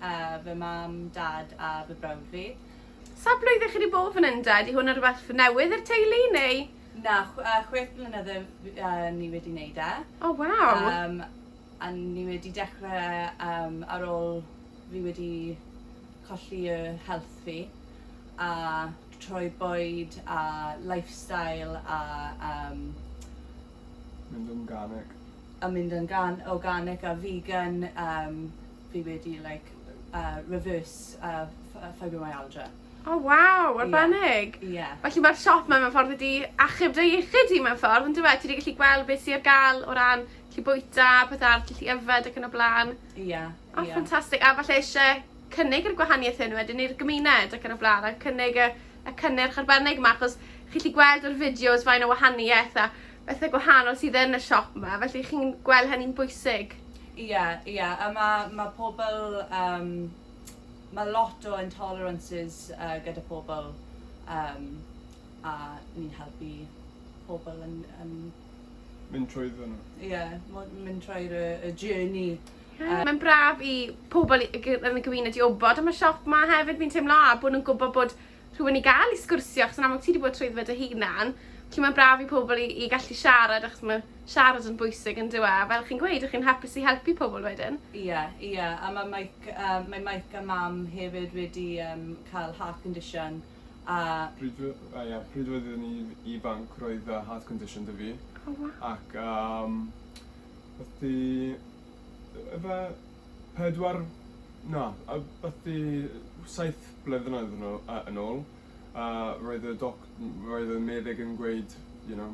A fy mam, dad a fy brawd fi. Sawl blwyddyn chi 'di bod fan hyn de? Ydy hwn yn rhywbeth newydd i'r teulu neu...? Na, chwech blynedd ni wedi neud e. O waw! Yym a ni wedi dechre yym ar ôl fi wedi colli y health fi a troi bwyd a lifestyle a yym mynd yn garneg a mynd yn garn- organic a vegan yym fi wedi like uh, reverse uh, uh, fibromyalgia. O oh, waw, arbennig! Ie. Yeah. Yeah. Felly mae'r siop mae mewn ffordd wedi achub dy iechyd i mewn ffordd, yn dweud, ti wedi gallu gweld beth sy'n gael o ran gallu bwyta, pethau, gallu yfed ac yn y blaen. Ie. Yeah, o, oh, yeah. ffantastig. A falle eisiau cynnig yr gwahaniaeth hyn wedyn i'r gymuned ac yn y blaen, a cynnig y, y cynnyrch arbennig yma, achos chi chi gweld yr fideos fain o wahaniaeth a bethe gwahanol sydd yn y siop 'ma, felly chi'n gweld hynny'n bwysig? Ie, ie, a ma' ma' pobl yym ma' lot o intolerances uh, gyda pobl um, a ni'n helpu pobl yn, yn mynd trwyddo nhw. Ie, yeah, mynd trwy'r y, y journey. Yeah, Mae'n braf i pobl yn y gymuned i wybod am y siop 'ma hefyd, fi'n teimlo, a bod nhw'n gwybod bod rhywun i gael i sgwrsio achos yn amlwg ti 'di bod trwyddo fe dy hunan. Felly mae'n braf i pobl i i gallu siarad achos mae siarad yn bwysig yndyw e? A fel chi'n gweud, 'ych chi'n hapus i helpu pobl wedyn. Ie, ie, a mae Mike yym mae Mike a Mam hefyd wedi yym cael heart condition a... Pryd o- o ie, pryd oedd yn i'n ifanc roedd yy heart condition 'da fi. O waw. Ac yym wrth i yy ife Pedwar, na, abathi saith blynyddoedd yn ôl, uh, yn ôl a roedd y doc, roedd y meddyg yn gweud, you know,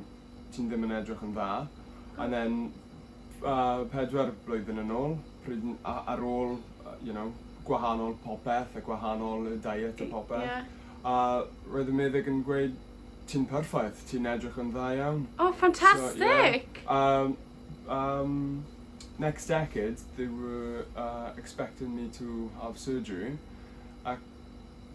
ti'n ddim yn edrych yn dda. And then, uh, pedwar blwyddyn yn ôl, pryd, a, ar ôl, you know, gwahanol popeth a gwahanol y diet a popeth. Yeah. A roedd y meddyg yn gweud, ti'n perffaith, ti'n edrych yn dda iawn. Oh, fantastic! So, yeah. um, Umm next decade they were uh, expecting me to have surgery ac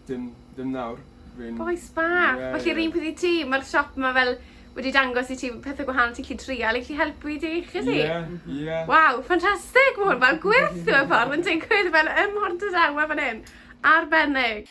dim, dim nawr fi'n... Bois bach! Yeah, Felly yeah. un peth i ti, mae'r siop yma fel wedi dangos i ti pethau gwahanol ti'n lli trial i lli helpu i ti chi si? Yeah, yeah. Waw, ffantastig! Mae hwn fel gwerthu y ffordd yn digwydd fel ym Mhortadawe fan hyn. Arbennig!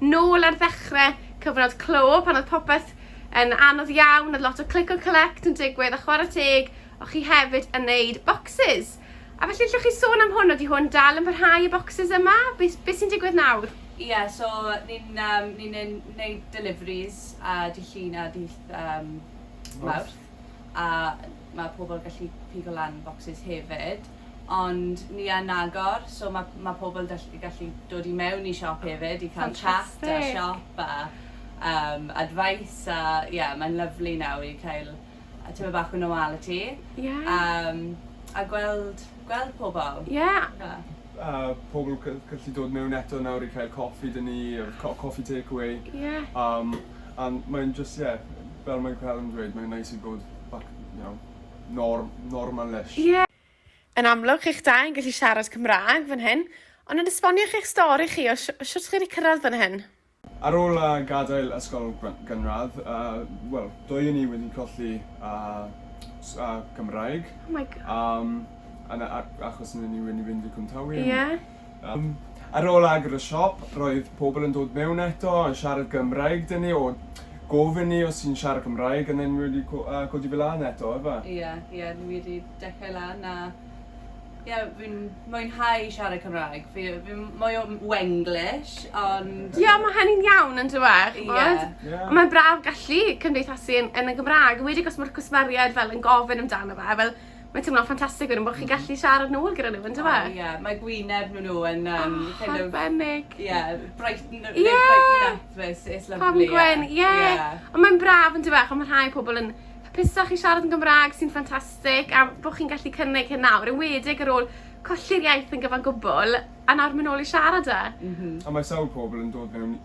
Nôl ar ddechre cyfnod clo pan oedd popeth yn anodd iawn, oedd lot o click and collect yn digwydd a chwarae teg o chi hefyd yn neud bocsys. A felly allwch chi sôn am hwn, ydi hwn dal yn parhau y bocsys yma? Be be sy'n digwydd nawr? Ie so ni'n yym ni'n ne- neud deliveries a dydd Llun a dydd yym Mawrth a ma' pobl gallu pigo lan bocsys hefyd. ond ni yn agor, so ma' ma' pobl yn dall- gallu dod i mewn i siop hefyd i cael chat a Ffantastig. siop a yym advice a ie mae'n lyfli nawr i cael yy tipyn bach o normality. Ie. Yym a gweld gweld pobl. Ie. Ie. a pobl gy- gallu dod mewn eto nawr i cael coffi 'da ni a co- coffi take away. Ie. Yym a mae'n jyst ie fel mae Callum yn dweud mae'n neis i bod back you know Norm, Norman Lish. Ie! Yn amlwg, chi'ch dau yn gallu siarad Cymraeg fan hyn, ond yn esbonio chi'ch stori chi o shwt chi wedi cyrraedd fan hyn? Ar ôl gadael ysgol gynradd, wel, dwy o ni wedi colli Cymraeg, achos ni wedi mynd i Cwm Tawe. Ie. Yym, ar ôl agor y siop, roedd pobl yn dod mewn eto, yn siarad Gymraeg 'da ni, o, gofyn ni os ti'n siarad Cymraeg, and then ni wedi co- yy codi fe lan eto, ife? Ie, ie, ni wedi dechrau lan, a, ie, fi'n mwynhau siarad Cymraeg, fi yy fi'n mwy o Wenglish, ond... Ie, ma' hynny'n iawn, yn dyw e, ch'mod? Ie. Ie. Mae'n braf gallu cymdeithasu yn yn y Gymrâg, enwedig os ma'r cwsmeriaid fel yn gofyn amdano fe, fel, Mae teimlo'n ffantastig wedyn bod chi'n gallu siarad nôl gyda nhw, yndyfe? O, ie. Mae gwyneb nhw nhw yn... Um, oh, kind of, arbennig. Ie, yeah, brighten, yeah. like, brighten up. It's, it's lovely. Pam gwen, ie. Yeah. Yeah. Ond mae'n braf yn dyfa, ond mae rhai pobl yn hapusach i siarad yn Gymraeg sy'n ffantastig a bod chi'n gallu cynnig hyn nawr. Yn wedig ar ôl colli'r iaith yn gyfan gwbl a nawr mynd ôl i siarad e. Mm -hmm. A mae sawl pobl yn dod mewn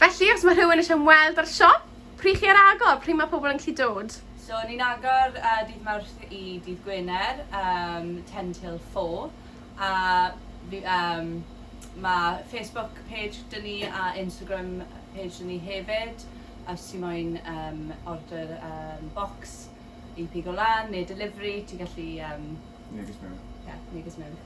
Felly, os mae rhywun eisiau ymweld â'r siop, pryd chi ar agor, pryd mae pobl yn gallu dod? So, ni'n agor uh, dydd Mawrth i dydd Gwener, um, 10 till 4, a um, mae Facebook page dyn ni a Instagram page dyn ni hefyd, os ti moyn um, order um, box i pigo lan neu delivery, ti'n gallu... Um, neges mewn. Yeah, neges mewn.